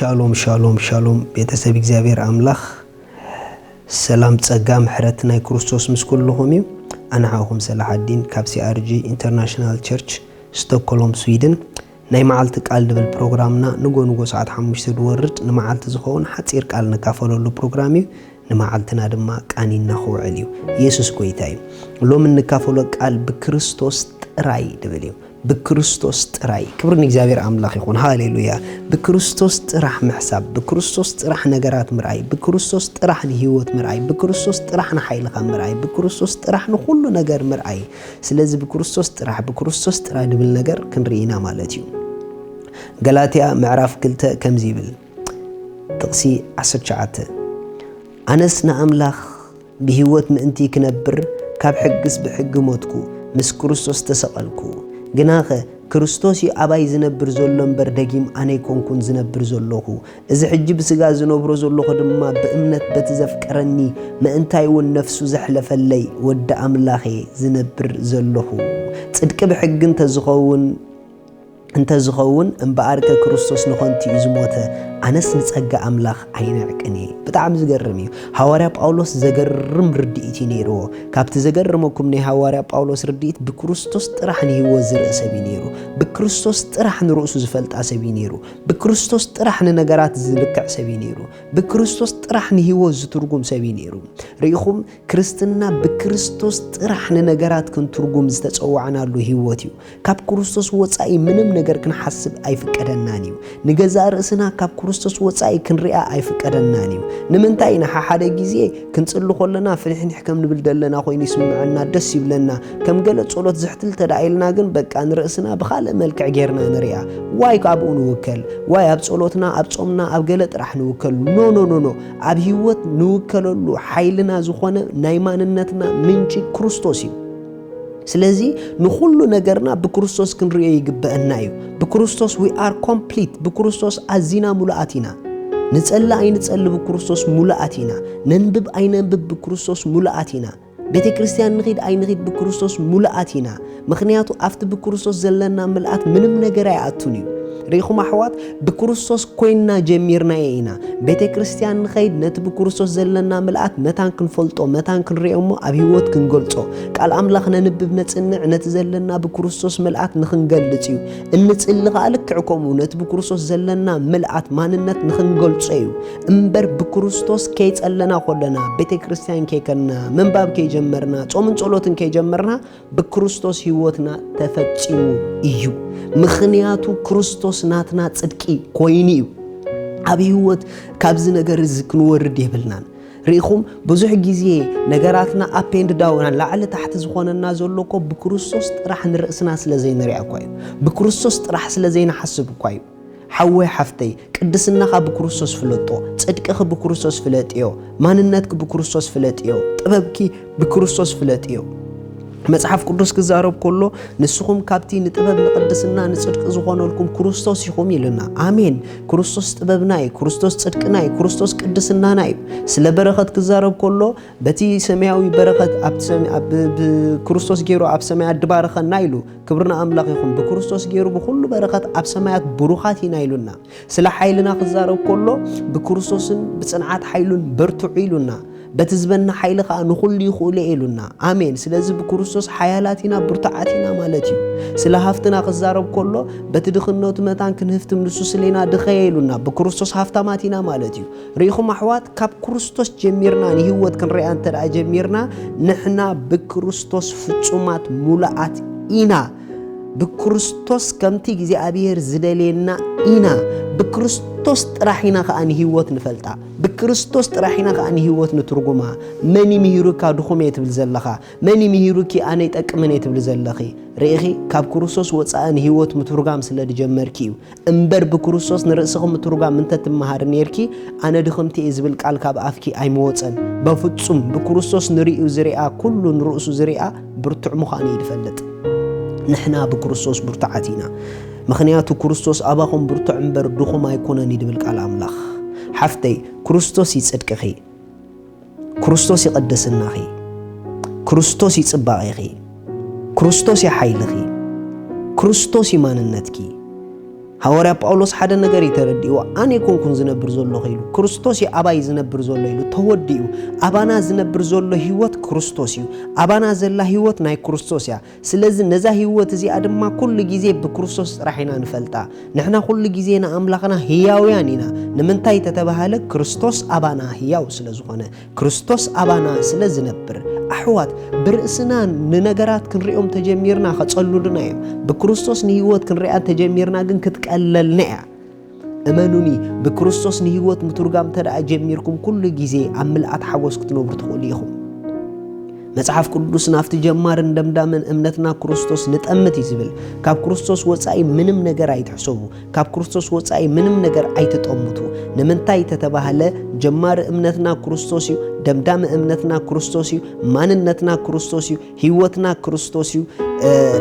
ሻሎም ሻሎም ሻሎም ቤተሰብ እግዚኣብሔር ኣምላኽ ሰላም ጸጋ ምሕረት ናይ ክርስቶስ ምስ ኩልኹም እዩ ኣንሓኹም ሰላሓዲን ካብ ሲኣርጂ ኢንተርናሽናል ቸርች ስቶኮሎም ስዊድን ናይ መዓልቲ ቃል ድብል ፕሮግራምና ንጎ ንጎ ሰዓት ሓሙሽተ ድወርድ ንመዓልቲ ዝኸውን ሓጺር ቃል ንካፈለሉ ፕሮግራም እዩ። ንመዓልትና ድማ ቃኒና ክውዕል እዩ። የሱስ ጎይታ እዩ። ሎሚ እንካፈሎ ቃል ብክርስቶስ ጥራይ ድብል እዩ። ብክርስቶስ ጥራይ። ክብሪ ንእግዚኣብሔር ኣምላኽ ይኹን። ሃሌሉያ። ብክርስቶስ ጥራሕ ምሕሳብ፣ ብክርስቶስ ጥራሕ ነገራት ምርኣይ፣ ብክርስቶስ ጥራሕ ንህይወት ምርኣይ፣ ብክርስቶስ ጥራሕ ንሓይልኻ ምርኣይ፣ ብክርስቶስ ጥራሕ ንኹሉ ነገር ምርኣይ። ስለዚ ብክርስቶስ ጥራሕ ብክርስቶስ ጥራሕ ድብል ነገር ክንርኢ ኢና ማለት እዩ። ገላትያ ምዕራፍ ክልተ ከምዚ ይብል ጥቕሲ 19 ኣነስ ንኣምላኽ ብህይወት ምእንቲ ክነብር ካብ ሕግስ ብሕጊ ሞትኩ ምስ ክርስቶስ ተሰቐልኩ ግናኸ ክርስቶስ እዩ ኣባይ ዝነብር ዘሎ እምበር ደጊም ኣነ ኣይኮንኩን ዝነብር ዘለኹ እዚ ሕጂ ብስጋ ዝነብሮ ዘሎኹ ድማ ብእምነት በቲ ዘፍቀረኒ ምእንታይ ውን ነፍሱ ዘሕለፈለይ ወዲ ኣምላኽ እየ ዝነብር ዘሎኹ። ጽድቂ ብሕጊ እንተ ዝኸውን እንተ ዝኸውን እምበኣርከ ክርስቶስ ንኸንቱ እዩ ዝሞተ፣ ኣነስ ንጸጋ ኣምላኽ ኣይንዕቅን እየ። ብጣዕሚ ዝገርም እዩ። ሃዋርያ ጳውሎስ ዘገርም ርድኢት እዩ ነይርዎ። ካብቲ ዘገርመኩም ናይ ሃዋርያ ጳውሎስ ርድኢት ብክርስቶስ ጥራሕ ንህይወት ዝርኢ ሰብ እዩ ነይሩ። ብክርስቶስ ጥራሕ ንርእሱ ዝፈልጣ ሰብ እዩ ነይሩ። ብክርስቶስ ጥራሕ ንነገራት ዝልክዕ ሰብ እዩ ነይሩ። ብክርስቶስ ጥራሕ ንህይወት ዝትርጉም ሰብ እዩ ነይሩ። ርኢኹም፣ ክርስትና ብክርስቶስ ጥራሕ ንነገራት ክንትርጉም ዝተጸዋዕናሉ ህይወት እዩ። ካብ ክርስቶስ ወጻኢ ምንም ነገር ክንሓስብ ኣይፍቀደናን እዩ። ንገዛእ ርእስና ካብ ክርስቶስ ወጻኢ ክንሪኣ ኣይፍቀደናን እዩ። ንምንታይ ኢና ሓሓደ ግዜ ክንጽሊ ኮለና ፍኒሕኒሕ ከም ንብል ደለና ኮይኑ ይስምዐና ደስ ይብለና ከም ገለ ጸሎት ዝሕትል እንተደኣ ኢልና ግን በቃ ንርእስና ብኻልእ መልክዕ ጌርና ንርኣ ዋይ ካብኡ ንውከል ዋይ ኣብ ጸሎትና ኣብ ጾምና ኣብ ገለ ጥራሕ ንውከል ኖ ኖ ኖ ኖ ኣብ ህይወት ንውከለሉ ሓይልና ዝኾነ ናይ ማንነትና ምንጪ ክርስቶስ እዩ ስለዚ ንኹሉ ነገርና ብክርስቶስ ክንርእዮ ይግበአና እዩ ብክርስቶስ ዊ ኣር ኮምፕሊት ብክርስቶስ ኣዚና ሙሉኣት ኢና ንጸሊ ኣይንጸሊ ብክርስቶስ ሙሉኣት ኢና ነንብብ ኣይነንብብ ብክርስቶስ ሙሉኣት ኢና ቤተ ክርስቲያን ንኺድ ኣይንኺድ ብክርስቶስ ሙሉኣት ኢና ምክንያቱ ኣብቲ ብክርስቶስ ዘለና ምልኣት ምንም ነገር ኣይኣቱን እዩ ርኢኹም ኣሕዋት ብክርስቶስ ኮይንና ጀሚርናዮ ኢና ቤተ ክርስቲያን ንኸይድ ነቲ ብክርስቶስ ዘለና ምልኣት መታን ክንፈልጦ መታን ክንሪኦ እሞ ኣብ ህይወት ክንገልጾ ቃል ኣምላኽ ነንብብ ነጽንዕ ነቲ ዘለና ብክርስቶስ ምልኣት ንኽንገልጽ እዩ እንጽሊ ከዓ ልክዕ ከምኡ ነቲ ብክርስቶስ ዘለና ምልኣት ማንነት ንኽንገልጾ እዩ እምበር ብክርስቶስ ከይጸለና ኮለና ቤተ ክርስቲያን ከይከንና ምንባብ ከይጀመርና ጾምን ጸሎትን ከይጀመርና ብክርስቶስ ህይወትና ተፈጺሙ እዩ። ምኽንያቱ ክርስቶስ ናትና ጽድቂ ኮይኑ እዩ። ኣብ ህይወት ካብዚ ነገር እዚ ክንወርድ የብልናን። ርኢኹም ብዙሕ ግዜ ነገራትና ኣፕ ኤንድ ዳውን ላዕሊ ታሕቲ ዝኾነና ዘሎ እኮ ብክርስቶስ ጥራሕ ንርእስና ስለ ዘይንሪኣ እኳ እዩ ብክርስቶስ ጥራሕ ስለ ዘይንሓስብ እኳ እዩ ሓወይ ሓፍተይ ቅድስናኻ ብክርስቶስ ፍለጦ ጽድቅኺ ብክርስቶስ ፍለጥዮ ማንነትኪ ብክርስቶስ ፍለጥዮ ጥበብኪ ብክርስቶስ ፍለጥዮ መጽሓፍ ቅዱስ ክዛረብ ከሎ ንስኹም ካብቲ ንጥበብ ንቅድስና ንጽድቂ ዝኾነልኩም ክርስቶስ ኢኹም ኢሉና። ኣሜን። ክርስቶስ ጥበብና እዩ፣ ክርስቶስ ጽድቅና እዩ፣ ክርስቶስ ቅድስናና እዩ። ስለ በረኸት ክዛረብ ከሎ በቲ ሰማያዊ በረኸት ኣብ ክርስቶስ ገይሩ ኣብ ሰማይ ኣድባረኸና ኢሉ ክብሪ ንኣምላኽ ይኹን ብክርስቶስ ገይሩ ብኹሉ በረኸት ኣብ ሰማያት ብሩኻት ኢና ኢሉና። ስለ ሓይልና ክዛረብ ከሎ ብክርስቶስን ብጽንዓት ሓይሉን በርትዑ ኢሉና። በቲ ዝበና ሓይሊ ከዓ ንኹሉ ይኽእሉ ኢሉና። ኣሜን። ስለዚ ብክርስቶስ ሓያላት ኢና ብርቱዓት ኢና ማለት እዩ። ስለ ሃፍትና ክዛረብ ከሎ በቲ ድኽነቱ መታን ክንህፍትም ንሱ ስሌና ድኸየ ኢሉና። ብክርስቶስ ሃፍታማት ኢና ማለት እዩ። ርኢኹም ኣሕዋት ካብ ክርስቶስ ጀሚርና ንህይወት ክንሪኣ እንተ ደኣ ጀሚርና ንሕና ብክርስቶስ ፍጹማት ሙሉኣት ኢና ብክርስቶስ ከምቲ እግዚኣብሔር ዝደልየና ኢና ብክርስቶስ ጥራሕ ኢና ከዓ ንህይወት ንፈልጣ ብክርስቶስ ጥራሕ ኢና ከዓ ንህይወት ንትርጉማ መን ይምሂሩካ ድኹም እየ ትብል ዘለኻ መን ይምሂሩኪ ኣነ ይጠቅምን እየ ትብል ዘለኺ ርኢኺ ካብ ክርስቶስ ወፃኢ ንህይወት ምትርጓም ስለ ዝጀመርኪ እዩ እምበር ብክርስቶስ ንርእስኺ ምትሩጋም እንተ ትመሃሪ ኔርኪ ኣነ ድኽምቲ እየ ዝብል ቃል ካብ ኣፍኪ ኣይምወጸን በፍጹም ብክርስቶስ ንርእዩ ዝርኣ ኩሉ ንርእሱ ዝርኣ ብርቱዕ ምዃኑ እዩ ዝፈልጥ ንሕና ብክርስቶስ ብርቱዓት ኢና ምኽንያቱ ክርስቶስ ኣባኹም ብርቱዕ እምበር ድኹም ኣይኮነን እዩ ዝብል ቃል ኣምላኽ ሓፍተይ ክርስቶስ እዩ ጽድቅኺ ክርስቶስ እዩ ቅድስናኺ፣ ክርስቶስ እዩ ጽባቄኺ፣ ክርስቶስ እዩ ሓይልኺ፣ ክርስቶስ እዩ ማንነትኪ። ሃዋርያ ጳውሎስ ሓደ ነገር እዩ ተረዲእዎ ኣነ ይኮንኩን ዝነብር ዘለኹ ኢሉ ክርስቶስ እዩ ኣባይ ዝነብር ዘሎ ኢሉ ተወዲኡ ኣባና ዝነብር ዘሎ ህይወት ክርስቶስ እዩ ኣባና ዘላ ህይወት ናይ ክርስቶስ እያ ስለዚ ነዛ ህይወት እዚኣ ድማ ኩሉ ግዜ ብክርስቶስ ጥራሕ ኢና ንፈልጣ። ንሕና ኩሉ ግዜ ንኣምላኽና ህያውያን ኢና። ንምንታይ ተተባህለ ክርስቶስ ኣባና ህያው ስለ ዝኾነ፣ ክርስቶስ ኣባና ስለ ዝነብር። ኣሕዋት ብርእስና ንነገራት ክንሪኦም ተጀሚርና ከጸሉሉና እዮም። ብክርስቶስ ንህይወት ክንሪኣ ተጀሚርና ግን ክትቀለልና እያ። እመኑኒ ብክርስቶስ ንህይወት ምትርጓም እንተደኣ ጀሚርኩም ኩሉ ግዜ ኣብ ምልኣት ሓጎስ ክትነብሩ ትኽእሉ ኢኹም። መጽሓፍ ቅዱስ ናብቲ ጀማርን ደምዳምን እምነትና ክርስቶስ ንጠምት እዩ ዝብል። ካብ ክርስቶስ ወጻኢ ምንም ነገር ኣይትሕሰቡ፣ ካብ ክርስቶስ ወጻኢ ምንም ነገር ኣይትጠምቱ። ንምንታይ ተተባህለ ጀማሪ እምነትና ክርስቶስ እዩ፣ ደምዳሚ እምነትና ክርስቶስ እዩ፣ ማንነትና ክርስቶስ እዩ። ህይወትና ክርስቶስ እዩ፣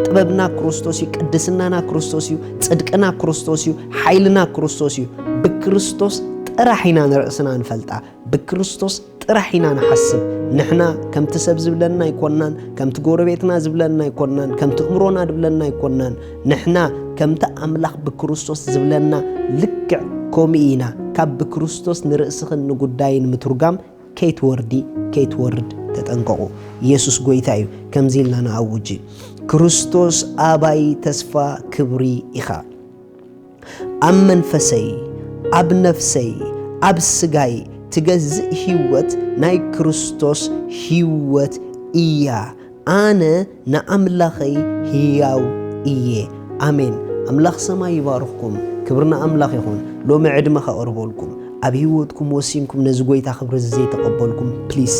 ጥበብና ክርስቶስ እዩ፣ ቅድስናና ክርስቶስ እዩ፣ ጽድቅና ክርስቶስ እዩ፣ ሓይልና ክርስቶስ እዩ። ብክርስቶስ ጥራሕ ኢና ንርእስና ንፈልጣ፣ ብክርስቶስ ጥራሕ ኢና ንሓስብ። ንሕና ከምቲ ሰብ ዝብለና ኣይኮናን፣ ከምቲ ጎረቤትና ዝብለና ኣይኮናን፣ ከምቲ እምሮና ዝብለና ኣይኮናን። ንሕና ከምቲ ኣምላኽ ብክርስቶስ ዝብለና ልክዕ ከምኡ ኢና። ካብ ብክርስቶስ ንርእስኽን ንጉዳይን ምትርጓም ከይትወርዲ ከይትወርድ ተጠንቀቑ። ኢየሱስ ጎይታ እዩ። ከምዚ ኢልና ንኣውጅ፣ ክርስቶስ ኣባይ ተስፋ ክብሪ ኢኻ። ኣብ መንፈሰይ፣ ኣብ ነፍሰይ፣ ኣብ ስጋይ ትገዝእ ሕይወት ናይ ክርስቶስ ሕይወት እያ። ኣነ ንኣምላኸይ ህያው እየ። ኣሜን ኣምላኽ ሰማይ ይባርኽኩም ክብሪ ንኣምላኽ ይኹን ሎሚ ዕድመ ከቕርበልኩም ኣብ ሂወትኩም ወሲንኩም ነዚ ጎይታ ክብሪ እዚ ዘይተቐበልኩም ፕሊስ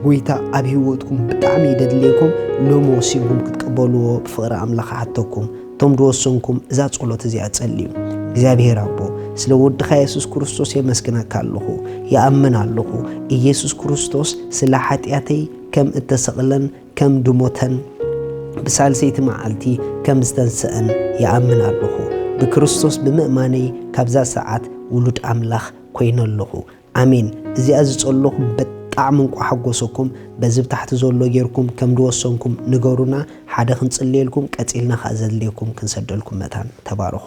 ጎይታ ኣብ ሂወትኩም ብጣዕሚ ይደድልየኩም ሎሚ ወሲንኩም ክትቀበልዎ ብፍቕሪ ኣምላኽ ሓተኩም እቶም ድወሰንኩም እዛ ጸሎት እዚኣ ጸልዩ እግዚኣብሄር ኣቦ ስለ ወድኻ የሱስ ክርስቶስ የመስግነካ ኣለኹ ይኣምን ኣለኹ ኢየሱስ ክርስቶስ ስለ ሓጢኣተይ ከም እተሰቕለን ከም ድሞተን ብሳልሰይቲ መዓልቲ ከም ዝተንስኣን ይኣምን ኣሎኹ። ብክርስቶስ ብምእማነይ ካብዛ ሰዓት ውሉድ ኣምላኽ ኮይነ ኣሎኹ። ኣሜን። እዚኣ ዝጸሎኹም ብጣዕሚ እንቋዕ ሓጎሰኩም። በዚ ብታሕቲ ዘሎ ጌርኩም ከም ድወሰንኩም ንገሩና ሓደ ክንጽልየልኩም ቀጺልና ከኣ ዘድልየኩም ክንሰደልኩም መታን። ተባረኹ።